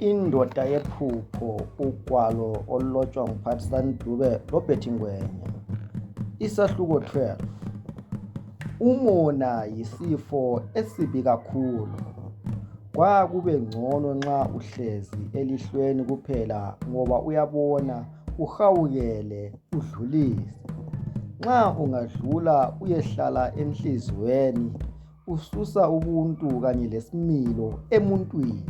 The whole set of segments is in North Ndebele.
indoda yephupho ugwalo olulotshwa nguphatisani dube lobert ngwenya isahluko 12 umona yisifo esibi kakhulu kwakube ngcono nxa uhlezi elihlweni kuphela ngoba uyabona uhawukele udlulise nxa ungadlula uyehlala enhliziyweni ususa ubuntu kanye lesimilo emuntwini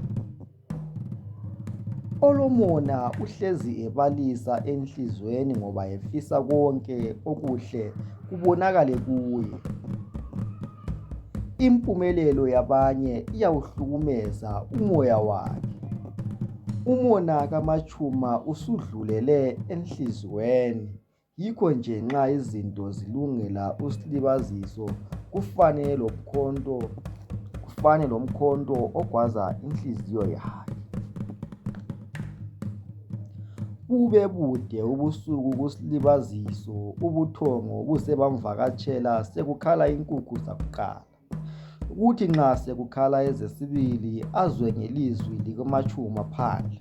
olomona uhlezi ebalisa enhliziyweni ngoba efisa konke okuhle kubonakale kuye Impumelelo yabanye iyawuhlukumeza umoya wakhe. Umona kaMatshuma usudlulele enhliziyweni yikho nje nxa izinto zilungela uSlibaziso kufane loMkhonto kufane loMkhonto ogwaza inhliziyo yakhe. Bubebude ubusuku kulibaziso ubuthongo buze bamvakatshela sekukhala inkukhu zakuqala kuthi nxa sekukhala ezesibili azwe ngelizwi likamatshuma phandle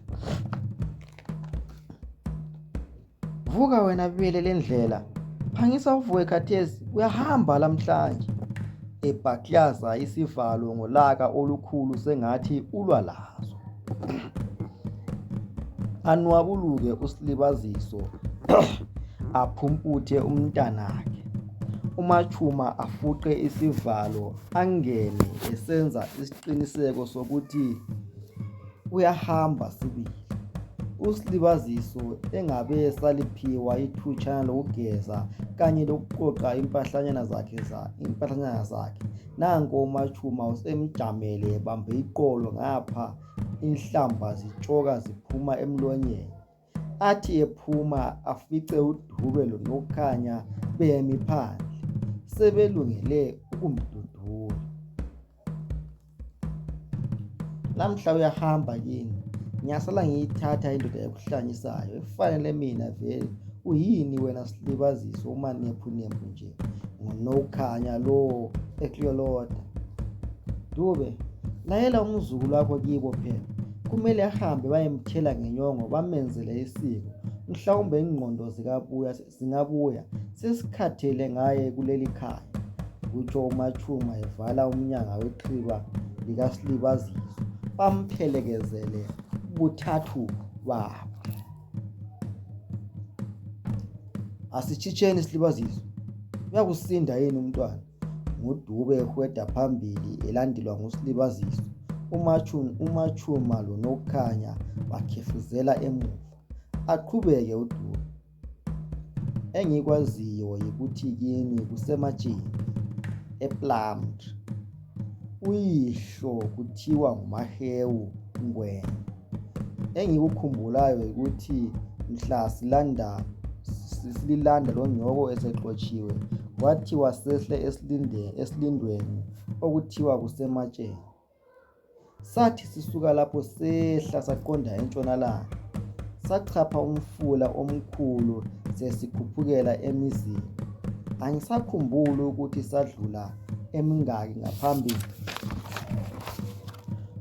vuka wena bele lendlela phangisa uvuke khathesi uyahamba lamhlanje ebhaklaza isivalo ngolaka olukhulu sengathi ulwa lazo. anwabuluke usilibaziso aphumputhe umntanakhe umatshuma afuqe isivalo angene esenza isiqiniseko sokuthi uyahamba sibili usilibaziso engabe esaliphiwa ithutshana lokugeza kanye lokuqoqa impahlanyana zakhe nanko umaTshuma usemjamele ebambe iqolo ngapha inhlamba zitshoka ziphuma emlonyeni athi ephuma afice uDube loNokukhanya bemi phandle sebelungele ukumdudula lamhla uyahamba kini ngiyasala ngiyithatha indoda ekuhlanyisayo efanele mina vele uyini wena silibazise umanephunephu nje ngunowukhanya lowo ekliyoloda dube layela umzukulu wakho kibo phela kumele ahambe bayemthela ngenyongo bamenzele isiko mhlawumbe ingqondo zikabuya zingabuya sesikhathele ngaye kuleli khaya kutsho umatshuma evala umnyanga wexhiba likasilibazizwe bamphelekezele buthathu babo asitshitsheni silibazizwe uyakusinda yini umntwana ngudube ehweda phambili elandelwa ngusilibazizwe umatshuma lonokukhanya bakhefuzela emuva aqhubeke udube engikwaziyo yikuthi kini kusematsheni eplumtree uyihlo kuthiwa nguMahewu Ngwenya. Engikukhumbulayo yikuthi mhla silanda sililanda lonyoko esexotshiwe kwathiwa sehle esilindweni okuthiwa kuseMatsheni. Sathi sisuka lapho sehla saqonda entshonalanga sachapha umfula omkhulu sesikhuphukela emizini. Angisakhumbuli ukuthi sadlula emingaki ngaphambi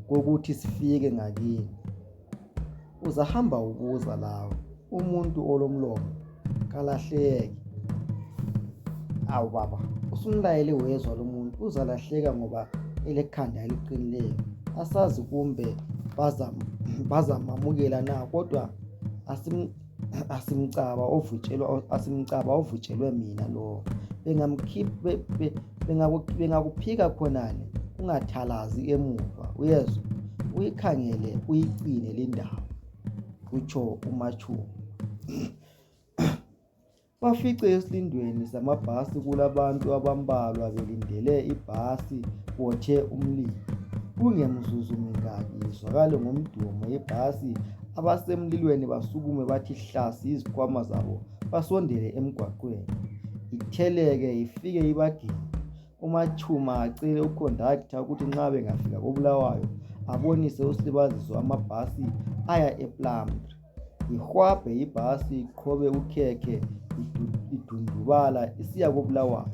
kokuthi sifike ngakini. Uzahamba ubuza lawe, umuntu olomlomo kalahleki. Awu baba, usumlayele wezwa lomuntu uzalahleka ngoba elekhanda eliqinileyo. Asazi kumbe bazamamukela na kodwa asim asimcaba ovutshelwa asimcaba ovutshelwe mina lowo bengakuphika khonale ungathalazi emuva uyezwa uyikhangele uyigcine lindawo kutsho umatshuku Bafice esilindweni samabhasi kulabantu abambalwa belindele ibhasi botshe umlilo. Kungemzuzu mingaki izwakale ngomdumo yebhasi abasemlilweni basukume bathi hlasi izikhwama zabo basondele emgwaqweni itheleke ifike ibagiqe. UMaTshuma acele ukhondaktha ukuthi nxa bengafika koBulawayo abonise uSlibaziso amabhasi aya ePlumtree. ihwabhe ibhasi iqhobe ukhekhe idundubala isiya kobulawayo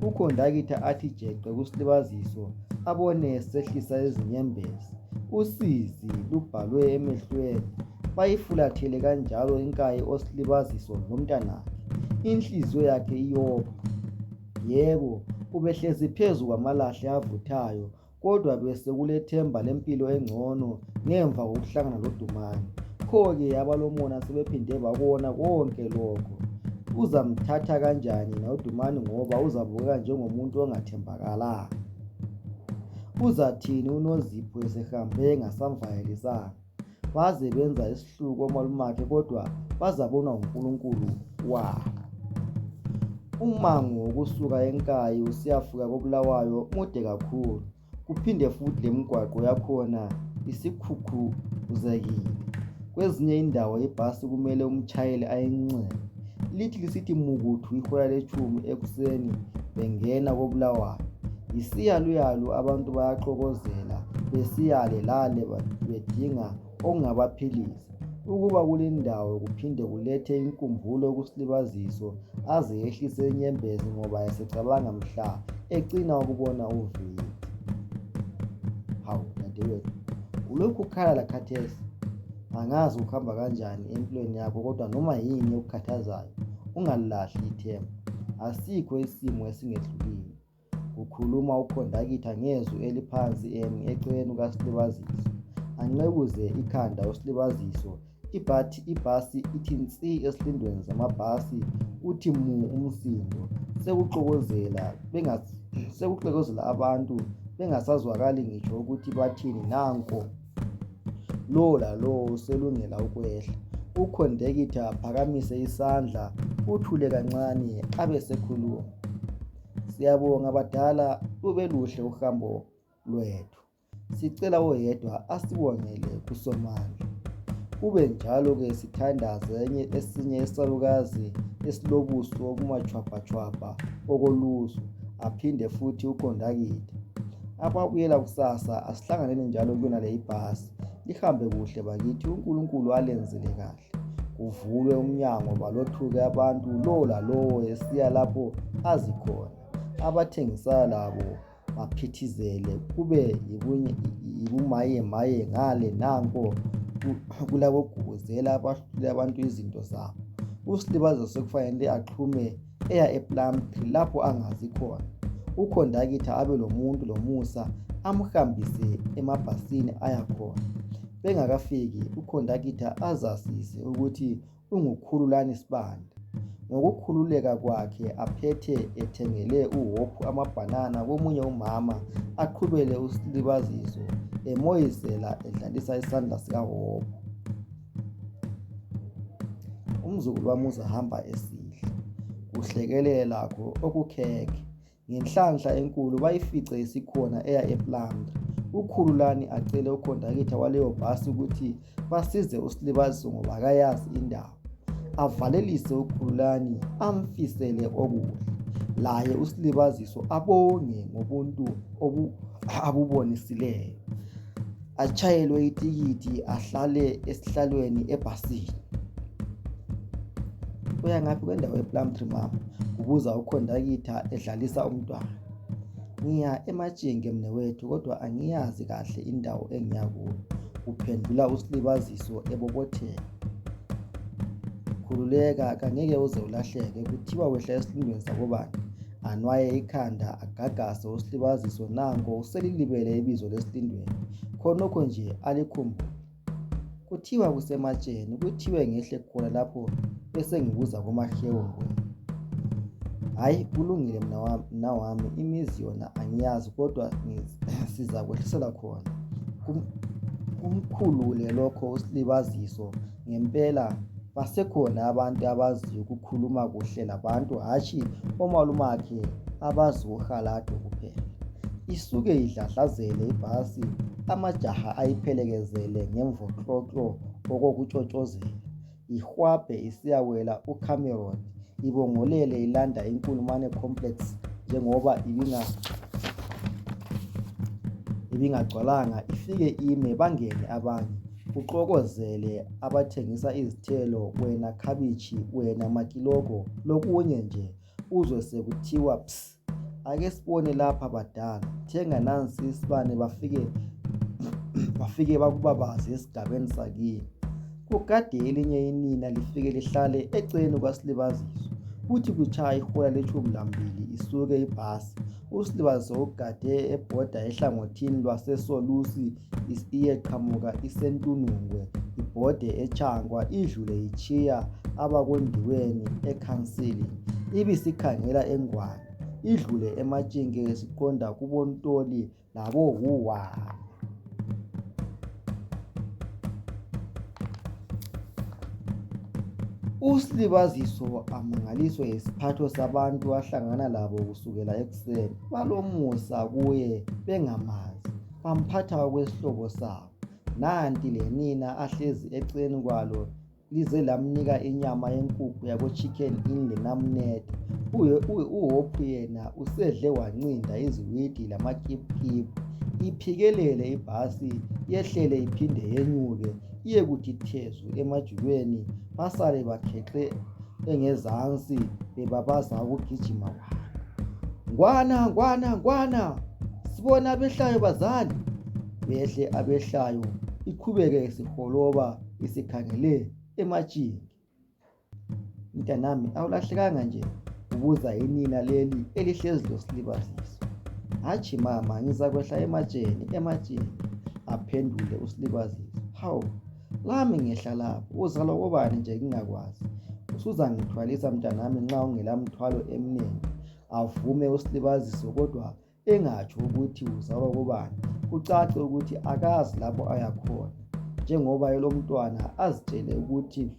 ukhondakitha athi jeqe kusilibaziso abone sehlisa izinyembezi usizi lubhalwe emehlweni bayifulathele kanjalo inkayi osilibaziso lomntanakhe inhliziyo yakhe iyopha yebo ubehlezi phezu kwamalahle avuthayo kodwa besekulethemba lempilo engcono ngemva kokuhlangana loDumani. Pho-ke abalomona sebephinde bakona konke lokho. Uzamthatha kanjani yena uDumani ngoba uzabukeka njengomuntu ongathembakalanga? Uzathini uNozipho esehambe engasamvakalisanga? baze benza isihluku omalumakhe kodwa bazabonwa nguNkulunkulu wabo umango wokusuka enkayi usiyafika kobulawayo mude kakhulu kuphinde futhi lemigwaqo yakhona isikhukhuzekile kwezinye indawo ibhasi kumele umtshayeli ayinxenxe lithi lisithi mukuthu ihola letshumi ekuseni bengena koBulawayo. Yisiyaluyalu abantu bayaxokozela besiya le lale bedinga okungabaphilisa. Ukuba kulendawo kuphinde kulethe inkumbulo kuSlibaziso aze ehlise inyembezi ngoba esecabanga mhla ecina ukubona uvila. Hawu dadewethu ulokhu ukhala lakhathesi? angazi kuhamba kanjani empilweni yakho kodwa noma yini ekukhathazayo ungalilahli ithemba asikho isimo esingehlulile kukhuluma ukhondakitha ngezwi eliphansi emi eceleni kukasilibazisi anqekuze ikhanda usilibaziso ibhathi ibhasi ithi nsi esilindweni zamabhasi uthi mu umsindo sekuxokozela sekuxokozela abantu bengasazwakali ngitsho ukuthi bathini nanko Lowo lalowo uselungela ukwehla. Ukhondekitha aphakamise isandla kuthule kancane abesekhuluma. Siyabonga badala lubeluhle uhambo lwethu. Sicela oyedwa asibongele kuSomandla. Kube njalo ke sithandaze enye esinye isalukazi esilobuso obumatshwabhatshwabha okolusu aphinde futhi ukhondakitha. Akwabuyela kusasa asihlanganeni njalo kuyonale ibhasi. Lihambe kuhle bakithi, uNkulunkulu alenzele kahle. Kuvulwe umnyango balothuke abantu lo lalowo esiya lapho azi khona. Abathengisayo labo baphithizele kube yibunye- yibumayemaye ngale nanko ku- kulabogubuzela abahlule abantu izinto zabo. USlibazo sekufanele axhume eya ePlumtree lapho angazi khona. Ukhondakitha abelomuntu lomusa amhambise emabhasini ayakhona. Bengakafiki ukhondakitha azazise ukuthi unguKhululani Sibanda. Ngokukhululeka kwakhe aphethe ethengele uHope amabhanana komunye umama aqhubele usilibaziso emoyizela edlalisa isandla sikaHope. Umzukulu wami uzahamba esidla. Kuhlekelele lakho okukhekhe. Ngenhlanhla enkulu bayifice isikhona eya ePlumtree. UKhululani acele ukhondakitha waleyo bhasi ukuthi basize uSilibaziso ngoba akayazi indawo. Avalelise uKhululani amfisele okuhle. Laye uSilibaziso abonge ngobuntu obu abubonisileyo. atshayelwe itikiti ahlale esihlalweni ebhasini uya ngaphi kwendawo yeplumtree mama kubuza ukhondakitha edlalisa umntwana ngiya ematshinge mnewethu kodwa angiyazi kahle indawo engiya kuyo kuphendula usilibaziso ebobotheka khululeka kangeke uze ulahleke kuthiwa wehla esilundweni sakobani anwaye ikhanda agagase uSlibaziso nanko uselilibele ibizo leSlindweni khonokho nje alikhumbule kuthiwa kusematsheni kuthiwe ngehle khona lapho besengibuza komahewu hayi kulungile mna wami imizi yona angiyazi kodwa sizakwehlisela khona kumkhulule lokho uSlibaziso ngempela basekhona abantu abazi ukukhuluma kuhle labantu hatshi omalumakhe abazi uhaladu kuphela isuke idladlazele ibhasi amajaha ayiphelekezele ngemvoklotlo okokutshotshozela ihwabhe isiyawela ucameron ibongolele ilanda inkulumane complex njengoba ibinga ibingagcwalanga ifike ime bangene abanye Kuxokozele abathengisa izithelo wena khabitshi wena makilogo lokunye nje uzwe sekuthiwa psi ake sibone lapha badala thenga nansi isibane bafike bafike bakubabaze esigabeni sakini kugade elinye inina lifike lihlale eceleni kwasilibaziso kuthi kutshaya ihola letshumi lambili isuke ibhasi usilibaziso ugade ebhoda ehlangothini lwasesolusi iyeqhamuka iseNtunungwe ibhode eTshangwa idlule itshiya abakoNdiweni ekhansili ibisikhangela eNgwane idlule eMatshinge isiqonda kuboNtoli laboHuwa. USlibaziso amangaliswe yisiphatho sabantu ahlangana labo kusukela ekuseni. Balomusa kuye bengamazi. bamphatha okwesihlobo sabo. Nanti lenina ahlezi eceleni kwalo lize lamnika inyama yenkukhu yako chicken inn lenamnede. UHope yena usedle wancinda iziwidi lamakipkip. Iphikelele ibhasi yehlele iphinde yenyuke iyekuthi thezu emajubeni basale bakhexe engezansi bebabaza ukugijima kwabo ngwana ngwana ngwana sibona abehlayo bazali behle abehlayo iqhubeke isiholoba isikhangele emajini Mntanami awulahlekanga nje ubuza inina leli elihlezi losilibazisi. Hatshi mama ngizakwehla ematsheni ematsheni aphendule usilibazisi. Hawu lami ngehla lapho uzalwa kobani nje ngingakwazi. Usuzangithwalisa mntanami nxa ungela mthwalo emnengi avume usilibazisi kodwa engatsho ukuthi uzalwa kubani kucace ukuthi akazi lapho ayakhona njengoba elomntwana azitshele ukuthi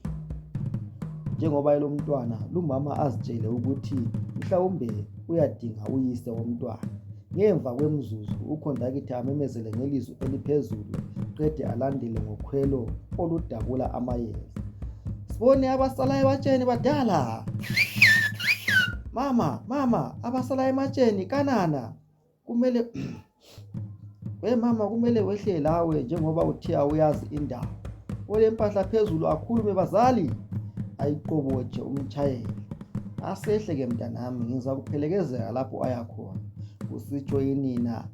njengoba elomntwana lumama azitshele ukuthi mhlawumbe uyadinga uyise womntwana ngemva kwemzuzu ukhondakithi amemezele ngelizwi eliphezulu qede alandele ngokhwelo oludabula amayezi sibone abasalayo batsheni badala mama mama abasala ematsheni kanana kumele we mama kumele wehle lawe njengoba uthe awuyazi indawo olempahla phezulu akhulume bazali ayiqobotshe umtshayeli asehle ke mntanami ngizakuphelekezela lapho ayakhona kusitsho inina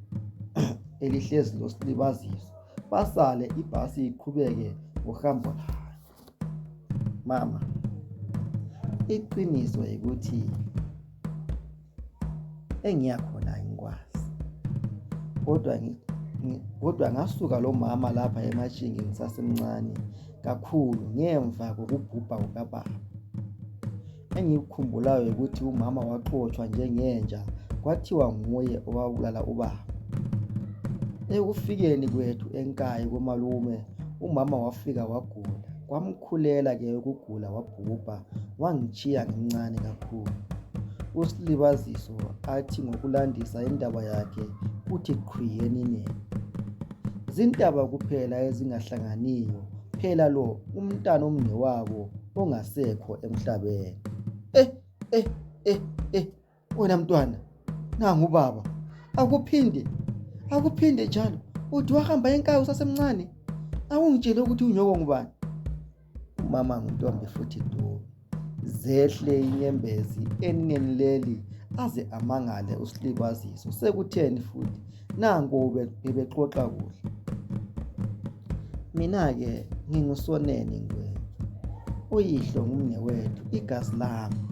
elihlezi losilibaziso basale ibhasi iqhubeke ngohambo layo Mama, iqiniso yikuthi engiyakhona angikwazi kodwa kodwa ngasuka lomama lapha emashingi ngisasemncane kakhulu ngemva kokubhubha kukababa Engikukhumbulayo yikuthi umama waxotshwa njengenja kwathiwa nguye owabulala ubaba. Ekufikeni kwethu eNkayi komalume umama wafika wagula kwamkhulela ke ukugula wabhubha wangitshiya ngimncane kakhulu. USlibaziso athi ngokulandisa indaba yakhe uthi qhwi eminengi. Zintaba kuphela ezingahlanganiyo. phela lo umntwana omnewabo ongasekho emhlabeni. Eh eh eh eh wena mntwana nangu ubaba akuphinde akuphinde njalo uthi wahamba enkayi usasemncane awungitshele ukuthi unyoko ngubani umama nguntombi futhi duwe. Zehle inyembezi eningeni leli aze amangale uSlibaziso sekutheni futhi nanko bebexoxa kuhle. Mina ke ngingusoneni ngwethu. Uyihlo ngumnewethu igazi lami.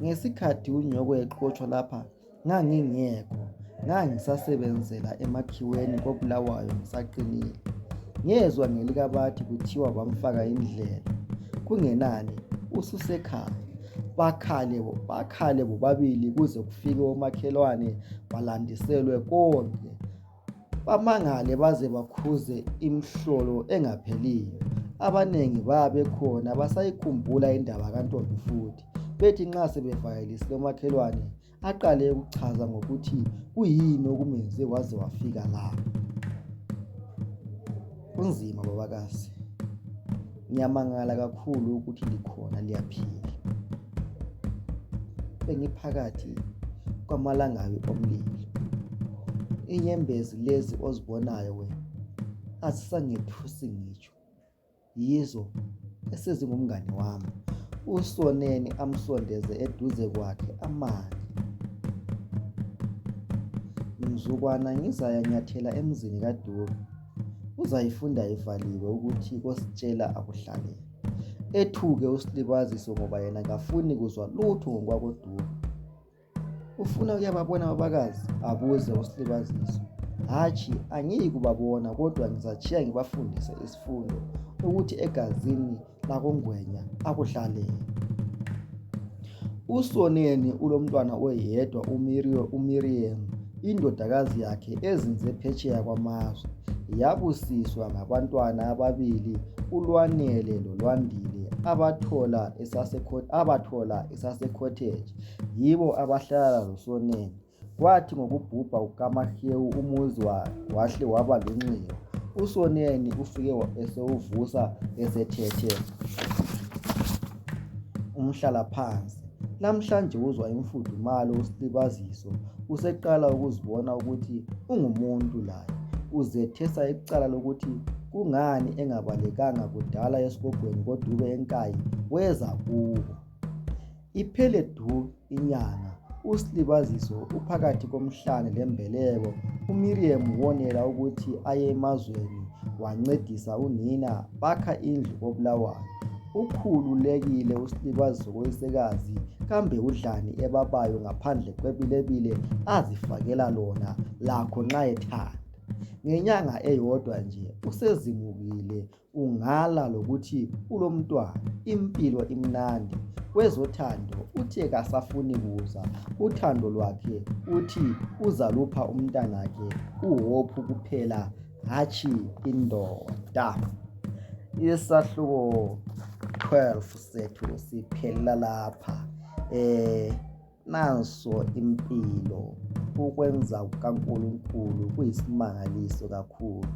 Ngesikhathi unyoko exotshwa lapha Ngangingekho, ngangisasebenzela emakhiweni koBulawayo ngisaqinile. Ngezwa ngelikabathi kuthiwa bamfaka indlela. Kungenani ususekhaya. Bakhale bakhale bobabili kuze kufike omakhelwane balandiselwe konke. bamangale baze bakhuze imhlolo engapheliyo. Abanengi bayabe bekhona basayikhumbula indaba kaNtombi futhi bethi nxa sebevakalisile umakhelwane aqale ukuchaza ngokuthi kuyini okumenze waze wafika la. Kunzima babakazi. Ngiyamangala kakhulu ukuthi likhona liyaphila. Bengiphakathi kwamalangabi omlilo. Inyembezi lezi ozibonayo wena azisangethusi ngitsho. Yizo esezingumngane wami. USoneni amsondeze eduze kwakhe amange. Mzukwana ngizayanyathela emzini kaDube. uzayifunda ivaliwe ukuthi kositshela akuhlalele ethuke uSlibaziso ngoba yena kafuni kuzwa lutho ngokwakoDube. Ufuna ukuyababona abakazi abuze uSlibaziso. Hatshi angiyi kubabona kodwa ngizatshiya ngibafundise isifundo ukuthi egazini lakoNgwenya akuhlalele. USoneni ulomntwana oyedwa uMiriam indodakazi yakhe ezinze phetsheya kwamazwe yabusiswa ngabantwana ababili uLwanele loLwandile abathola esaseCottage yibo abahlala loSoneni Kwathi ngokubhubha kukaMahewu umuzi wahle waba lunxiwa. USoneni ufike esewuvusa esethethe umhlalaphansi. Namhlanje uzwa imfudumalo usilibaziso useqala ukuzibona ukuthi ungumuntu laye. Uzethesa icala lokuthi kungani engabalekanga kudala esigogweni kodube enkayi weza kubo. Iphele du inyanga uSlibaziso uphakathi komhlane lembeleko uMirriam wonela ukuthi aye emazweni wancedisa unina bakha indlu koBulawayo. Ukhululekile uSlibaziso kowesekazi kambe udlani ebabayo ngaphandle kwebilebile azifakela lona lakho nxa ethanda. Ngenyanga eyodwa nje usezimukile Ungala lokuthi ulomntwana impilo imnandi kwezothando uthe kasafuni kuza uthando lwakhe uthi uzalupha umntanakhe uHope kuphela hatshi indoda isahluko 12 sethu siphelela lapha eh Nanso impilo. Ukwenza kukaNkulunkulu kuyisimangaliso kakhulu.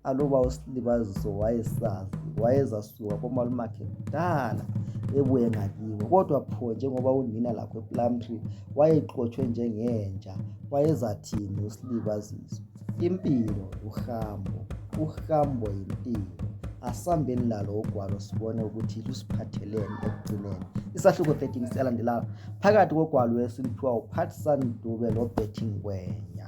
Aluba uSilibaziso wayesazi, wayezasuka komalumakhe kudala ebuye ngakibo. Kodwa pho njengoba unina lakho ePlumtree wayexotshwe njengenja, wayezathini uSilibaziso? impilo uhambo uhambo yimpilo asambeni lalo ugwalo sibone ukuthi lusiphatheleni ekugcineni isahluko 13 siyalandelayo phakathi kogwalo esiliphiwa uphathisan dube lobethi ngwenya